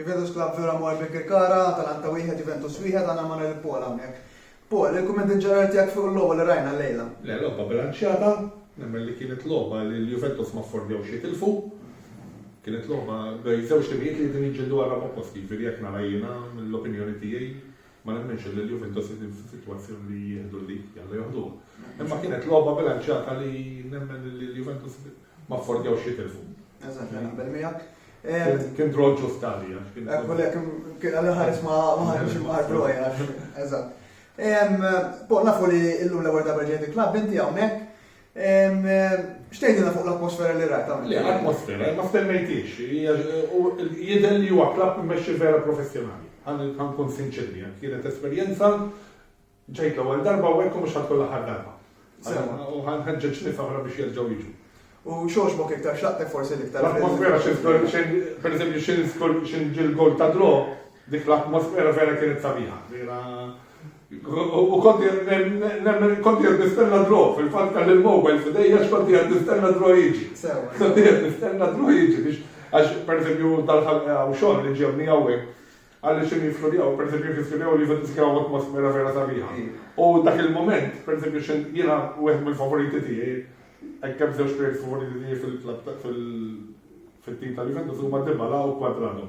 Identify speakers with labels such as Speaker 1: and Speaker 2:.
Speaker 1: Juventus Club Vera Maul Birkirkara, Atalanta wieħed, Juventus wieħed, għandna ma' lil Paul hawnhekk. Paul, il-kumment in ġenerali tiegħek fuq il-logħba li rajna llejla? Le, logħba bilanċjata,
Speaker 2: nemmen li kienet logħba li l-Juventus ma affordjawx jitilfu. Kienet logħba bejn żewġ timijiet li qegħdin jiġġieldu għar-raba' post, jiġifieri hekk nara jiena, l-opinjoni tiegħi. Ma nemminx li l-Juventus qegħdin fi sitwazzjoni li jieħdu l-lead, jalla joħduha. Imma kienet logħba bilanċjata li nemmen li l-Juventus ma affordjawx jitilfu. Eżatt, naqbel
Speaker 1: miegħek. Kien draw
Speaker 2: ġust għalija. Ekku lek,
Speaker 1: kien għalli ħares ma ħarġ ma ħarġ roja. Eżatt. Bo, nafu li l-lum l-ewwel darba ġejt il-klabb inti hawnhekk. Xtejdina fuq l-atmosfera li rajt għamil. L-atmosfera, ma
Speaker 2: stemmejtix, jidher li huwa klab immexxi vera professjonali. Għan kun sinċerri, kienet esperjenza ġejt l-ewwel darba u hekk mhux ħadd kollha ħad darba. U ħanħeġġeġ nies oħra biex jerġgħu jiġu. U xoxbok iktar xaqtek
Speaker 1: forsi l-iktar. L-atmosfera xi żgur,
Speaker 2: per eżempju, xi żgur xi ġil gol ta' dro, dik l-atmosfera vera kienet sabiħa. U kont qiegħed nemmen, kont qiegħed nistenna dro, fil-fatt kelli l-mobile f'idejja għax kont qiegħed nistenna dro jiġi. Kont qiegħed nistenna dro jiġi biex għax pereżempju dal-ħadd hawn xogħol li ġewni hawnhekk għalli xi nistudjaw, pereżempju nistudjaw li fil kien hawn atmosfera vera sabiħa. U dak il-moment, pereżempju xi jiena wieħed mill-favoriti tiegħi, hekk kemm żewġ players favoriti tiegħi fil-tim tal-Juventus huma Dybala u Quadrado.